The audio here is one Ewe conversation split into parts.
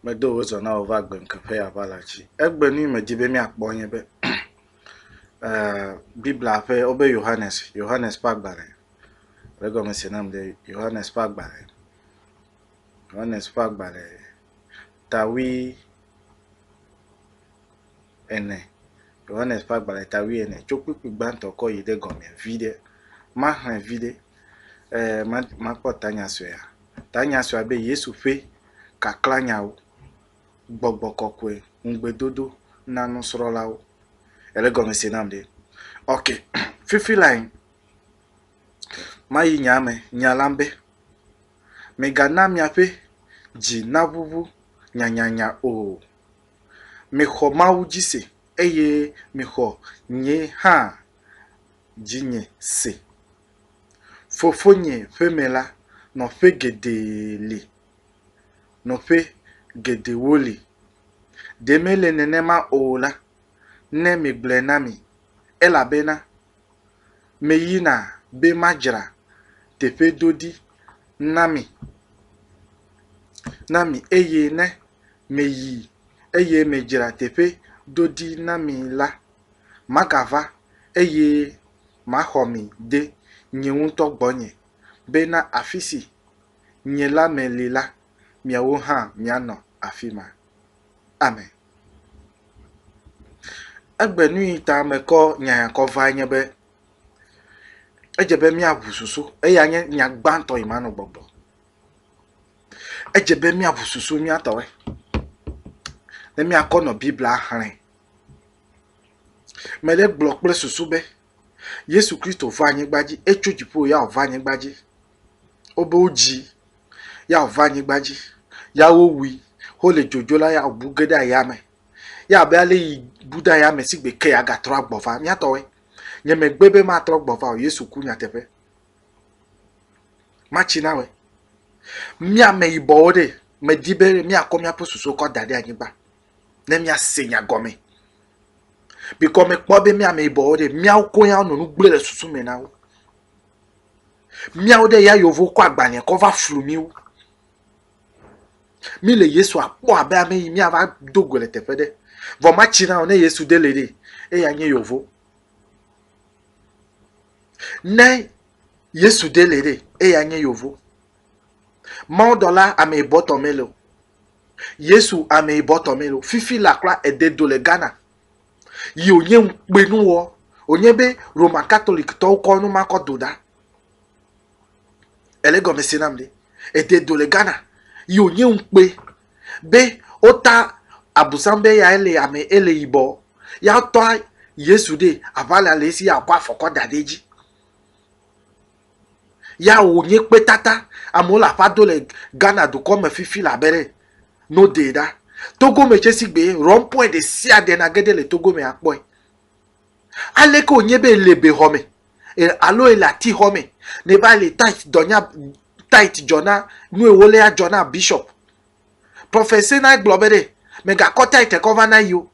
Medo wò zɔ na wò va agbeŋkeƒe ya va la tsi. Egbe nu yi medi be míakpɔ nye be Biblia ƒe wobe Yohanes, Yohanes ƒe agbalẽ. Le egɔme se nam be Yohanes ƒe agbalẽ. Yohanes ƒe agbalẽ tawui ene. Yohanes ƒe agbalẽ tawui ene tso kpukpui gbãtɔ kɔ yi ɖe gɔme vi ɖe. Maxlẽ vi ɖe. Ee, makpɔ tanya suea. Tanya sue abe Yesu ƒe kaklanyawo, Gbɔgbɔ kɔkɔe, ŋugbedodo na nusrɔ̃lawo. Ele gɔme se nam ɖe? Ok, fifi lae mayi nyaa me, nya la be, Migana miaƒe dzi naʋuʋu nyanyanya o. Mixɔ Mawu dzi se eye mixɔ nye hã dzinye se. Fofonye ƒe me la, nɔƒe geɖe li, nɔƒe geɖewo li. Ɖe mele nenema o la, ne megblɔe na mi. Elabena meyina be madzra teƒe ɖo ɖi na mi, na mi, eye ne meyi, eye medzra teƒe ɖo ɖi na mi la, Magava eye maxɔ mi de nye ŋutɔ gbɔnye, be na afi si nye lãme li la, miawo hã mianɔ afi ma. Amen. Egbe nui ta mekɔ nya ya kɔ vae nye be, edze be míaʋu susu. Eya nye nya gbãtɔ yi manɔ gbɔgblɔ. Edze be míaʋu susu míatɔe ne míakɔ nɔ Biblia xlẽ Me ɖe gblɔ kple susu be Yesu Kristo va anyigba dzi, etso dziƒo ya wòva anyigba dzi. Wobe wodzi ya wòva anyigba dzi, ya wowui, wole dzodzo la ya wòbu ge ɖe ayame. Ya abe ale yi bu ɖe ayame si gbe ke agatrɔ agbɔ va. Míatɔwoe. Nye megbe be matrɔ gbɔ va o. Yesu ku nyateƒe. Matsi na we. Míame yibɔwo ɖe, medi be míakɔ míaƒe susuwo kɔ da ɖe anyigba. ne míase nya gɔme. Bikɔ mekpɔ be mía ameyibɔwo ɖe, míawo koe ya wonɔ nu gblẽ le susu me na wo. Míawo ɖe ya yewo kɔ agbalẽ kɔ va flu míwo. Mi le Yesu akpɔ abe ame yi míava do go le teƒe ɖe. Vɔ matsi na o ne Yesu de le ɖe. Eya nye yevo. Ne Yesu de le ɖe, eya nye yevo. Mawudɔla ame bɔtɔ mele o. Yesu ameyibɔ tɔ melo. Fifi la kura ede do le Ghana. Yi wònye ŋukpenu wɔ. Wònye be Roman Catholic tɔwo kɔ nu ma kɔ do ɖa. Ele gɔme se nam ɖe. Ede do le Ghana. Yi wònye ŋukpe be wota abusam be ya ele ame ele yibɔ. Ya tɔ Yesu ɖe aʋa le ale si ya kɔ afɔ kɔ da ɖe edzi. Ya wònye kpetata. Amewo le aƒa do le Ghana dukɔ me fifi la be ɖe no dee ɖa. Togo me tse si gbee rɔmpɔɛ ɖe sia ɖe na ge ɖe le Togo me akpɔe. Aleke wònye be èle bexɔ me alo èle atixɔ me ne va le tithe dɔ nya tithe dzɔ na nu yi wolé adzɔ na bishop. Prophet Senai gblɔ be ɖe megakɔ tithe kɔ va na yi o.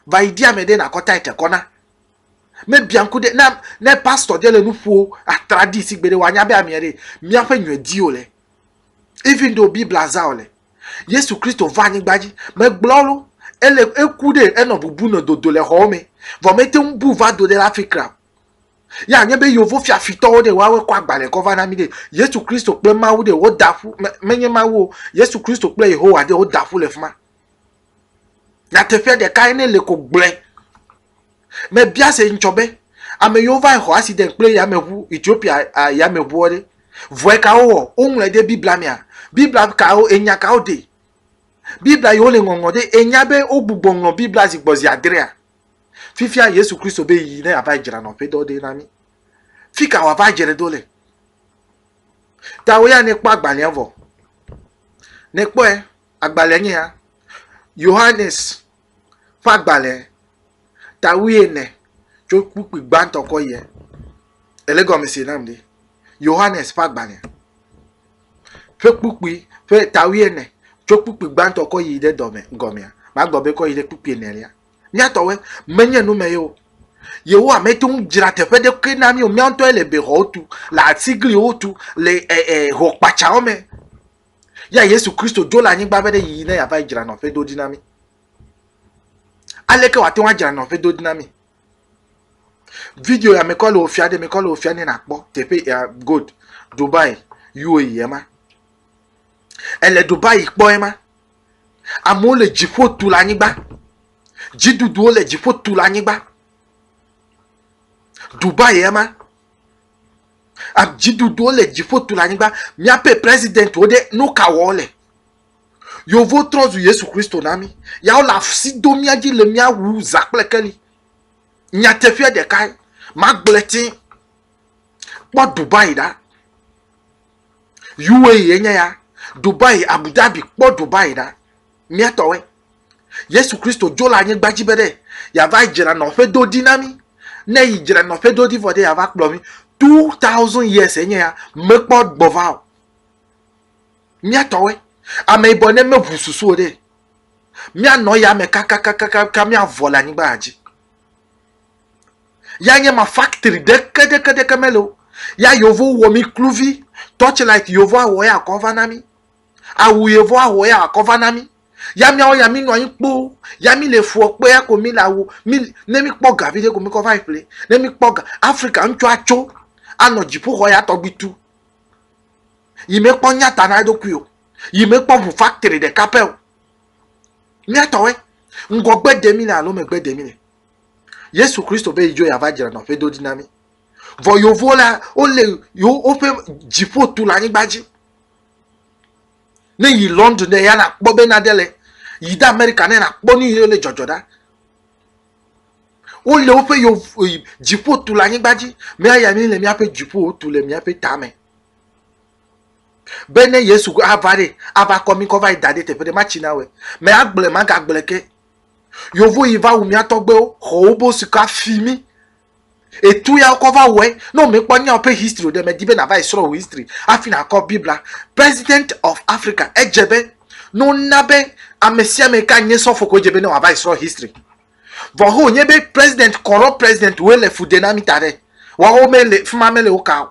Vayi di ame ɖe nakɔ tithe kɔ na. Me bianku ɖe na ne pastor ɖe le nuƒo atradi si gbede wanya be amia ɖe mia ƒe nyɔ di o le. Even though Biblia za o le. Yesu Kristo va anyigba dzi. Me gblɔ lo. Ele eku ɖe enɔ bubu nɔ dodo le xɔwo me. Vɔ me te bu va do ɖe la fi kra. Ya nye be yovo fia fitɔwo ɖe woawe kɔ agbalẽ kɔ va na mi ɖe. Yesu Kristo kple Mawu ɖe wo da ƒu me nye Mawu o. Yesu Kristo kple Yehowa ɖe wo da ƒu le fima. Nyateƒe ɖeka ye ne le ko gblɔe. Mebia se ŋtsɔ be, ame yiwo va yi xɔ accident kple yameʋu, Ethiopia yameʋuɔ ɖe, vɔe ka wowɔ? Woŋlɔe ɖe Biblia mea? Biblia kawo, enya kawo de? Biblia yiwo le ŋɔŋlɔ ɖe, ènya be wogbugbɔ ŋlɔ Biblia zi gbɔ zi adrea? Fifia Yesu Kristo be yi ne yeava yi dzra nɔƒedɔ ɖe na mí. Fika wòava dzre ɖo le? Ta wò ya ne kpɔ agbalẽa vɔ. Ne kpɔe, agbalẽa nye ya. Yohanes. ƒe agbalẽ ta wuiene tso kpukpui gbãtɔ kɔ yia? Ele gɔmese nam ɖi. Yohanes ƒe agbalẽ ƒe kpukpui ƒe ta wuiene tso kpukpui gbãtɔ kɔ yi ɖe dɔme gɔmea. Magblɔ be kɔ yi ɖe kpukpui enelia. Míatɔwoe menye nu me ye o. Yehowa mete ŋu dzra teƒe ɖe koe na mí o. Míawo ŋutɔe le bexɔwo tu, le atigliwo tu, le e, e, hokpatsawo me. Ya Yesu Kristo dzo le anyigba be ɖe yiyi ne yeava dzra nɔƒe do ɖi na mí. Aleke wòate ŋu adzra nɔƒe do ɖi na mí? Video ya mekɔ le wòfia ɖe mekɔ le wòfia ne nakpɔ teƒe ya good Dubai UAE ye ma. Ele Dubai kpɔ ye ma. Amewo le dziƒo tu le anyigba. Dziɖuɖuwo le dziƒo tu le anyigba. Dubai ye ma. Dziɖuɖuwo le dziƒo tu le anyigba. Míaƒe presidentwo ɖe, nu ka wɔm wole? Yewo trɔ zu Yesu Kristo na mí. Ya wole asi dom mía dzi le mía wu zã kple keli. Nyateƒea ɖekae, magblɔe tẽ. Kpɔ Dubai ɖa. UAE enye ya. Dubai, Abu Dhabi, kpɔ Dubai ɖa. Mía tɔwoe. Yesu Kristo dzo le anyigba dzi be ɖe yava dzra nɔƒe do ɖi na mí. Ne yi dzra nɔƒe do ɖi vɔ ɖe yava kplɔ mí. 2000 years enye ya mekpɔ gbɔva o. Míatɔwe ame yibɔ ne meʋu susu o ɖe. Míanɔ ya me kakakakaka míavɔ le anyigba dzi. Ya nye ma factory ɖeke ɖeke ɖeke mele o. Ya yevu wɔ mí kluvi. Torchlight yevu awɔ ya kɔ va na mí. Awu ye vɔ ahɔ ya akɔ va na mi. Ya miawo ya mi nɔ anyi kpo. Ya mi le fuɔ kpe ya ko mi le awu. Mi ne mi kpɔ ga vi ɖe ko mi kɔ va yi ƒle. Ne mi kpɔ ga Afrika ŋutsu atso anɔ dziƒoxɔ ya tɔgbi tu. Yi me kpɔ nyata na eɖokui o. Yi me kpɔ ʋu factory ɖeka pɛ o. Miatɔwe ŋgɔgbe de mi le alo megbe de mi le. Yesu Kristo be yi dzo ya va dzra nɔƒe do ɖi na mi. Vɔ yovo la wo le yo woƒe dziƒo tu le anyigba dzi. ne yi london ɖe ya nakpɔ be nade le yi de amerika ne nakpɔ nu yiwo le dzɔdzɔ ɖa wole woƒe yevu dziƒo tu le anyigba dzi míaya mi le míaƒe dziƒo tu le míaƒe tame be ne yesu ava ɖe ava kɔ mi kɔ va yi da ɖe teƒe ɖe matsi na wɛ mɛ agblẽ magagblẽ ke yevu yi va wu míatɔgbewo xɔ wobo sika fi mi Etu ya wokɔ va wɔe. Ne womekpɔ nyawo ƒe history o ɖe, medi be nàva yi srɔ̃ wò history hafi nàkɔ Biblia. President of Africa, edze be ne wona be amesiame yi ke anye sɔfo koe dze be ne wòava yi srɔ̃ history. Vɔ hã wònye be president, corrupt president woe le fu de na mí ta ɖe. Woawo mele, fi ma mele wo ka o.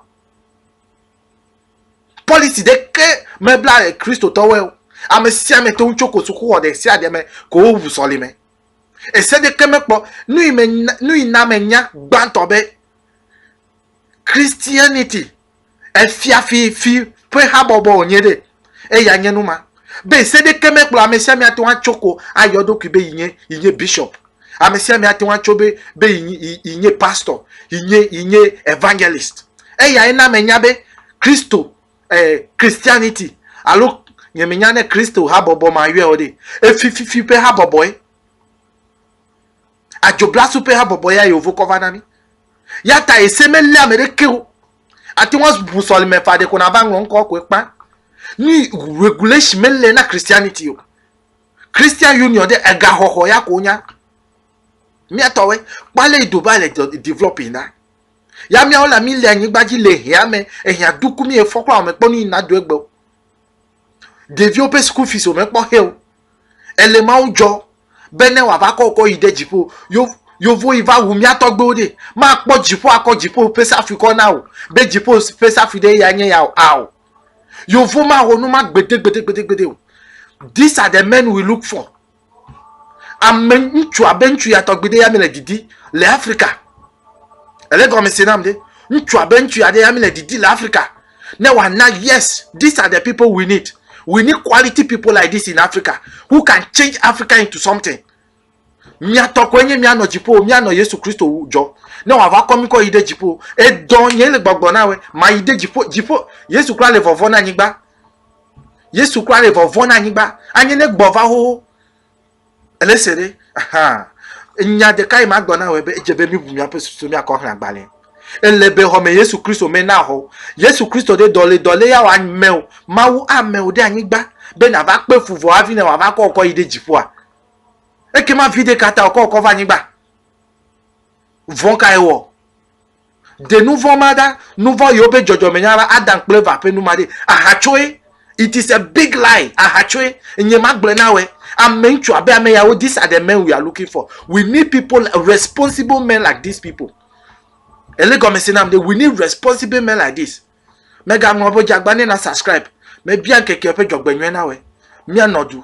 Policy ɖeke mebla Kristotɔwoe o. Amesiame to ŋu tso ko sukuxɔ ɖe sia ɖe me ko wowu sɔlime. Ese ɖeke mekpɔ nu yi na menya gbãtɔ be Christianity efia fi fi ƒe habɔbɔ wònye ɖe. Eya nye nu ma be ese ɖeke mekplɔ ame sia ame ate ŋu atso ko ayɔ eɖokui be yi nye yi nye bishop. Ame sia ame ate ŋu atso be be yi nye pastor, yi nye yi nye evangelist. Eyae na menya be Kristo eh, Christianity alo nyemenya ne Kristo habɔbɔ ma yɔe o ɖe efififi ƒe habɔbɔe adzoblasu ƒe habɔbɔ ya yewo kɔ va na mi ya ta ese melé ame ɖeke o ate ŋu abu sɔlime fa ɖeko nava ŋlɔ ŋkɔ koe kpa ni regulation melé na Christianity o Christian Union ɖe egaxɔxɔ ya ko nya miatɔwe kpale idoba le developing na Ya míawo la míle anyigba dzi le hea me, ehea duku mí efɔ kura wòmekpɔ nu yi nado egbe o. Ɖeviwo ƒe school fees wòmekpɔ xe o. Ele Mawu dzɔ be ne wòava kɔ wokɔ yi ɖe dziƒo. Yo yovo yi va wu mía tɔgbewo ɖe. Makpɔ dziƒo akɔ dziƒo ƒe safui kɔ na o be dziƒo ƒe safui ɖe ya nye ya o. Ao. Yovo mawɔ nu ma gbede gbede gbede gbede o. These are the men we look for. ame ŋutsu abe ŋutsu ya tɔgbi ɖe ya mi le didi le afrika ele gɔme se nam ɖe ŋutsu abe ŋutsu ya ɖe ya mi le didi le afrika ne wa na yes these are the people we need we need quality people like this in africa who can change africa into something miatɔ koe nye mianɔ dziƒo mianɔ yesu kristo dzɔ ne wòava kɔ mi kɔ yi ɖe dziƒo edɔ nye le gbɔgblɔ na wɛ mayi ɖe dziƒo dziƒo yesu kura le vɔvɔ na anyigba Yesu kura ɖe vɔvɔ na anyigba. Anye ne gbɔ va xoxo. Ele se ɖe. Aha. Nya ɖeka yi ma gblɔ na wɔ be edze be mi bu miaƒe susu mi akɔ xlã gbalẽ. Ele be xɔme Yesu Kristo me na xɔ. Yesu Kristo ɖe dɔle dɔle ya wɔ ame o. Mawu ame o ɖe anyigba be na va kpe fu vɔ hafi ne wɔ va kɔ kɔ yi ɖe dziƒoa. Eke ma vi ɖeka ta wɔ kɔ kɔ va anyigba. Vɔ ka ye wɔ? Ɖe nu vɔ̃ ma ɖa, nu vɔ̃ yi woƒe dzɔdzɔmenya va, Adam kple Eva ƒe nu ma ɖe. Ahatsoe. It is a big lie. Ahatsoe. Nye magblɔe na wòe. Ame ŋutsu abe ame yawo, these are the men we are looking for. We need people, responsible men like these people. Ele gɔmese nam ɖe, we need responsible men like this. Mega ŋlɔ ƒe dze agba ne na subscribe. Mebia ŋkeke ƒe dzɔgbenyɔe na wòe. Mia nɔ du.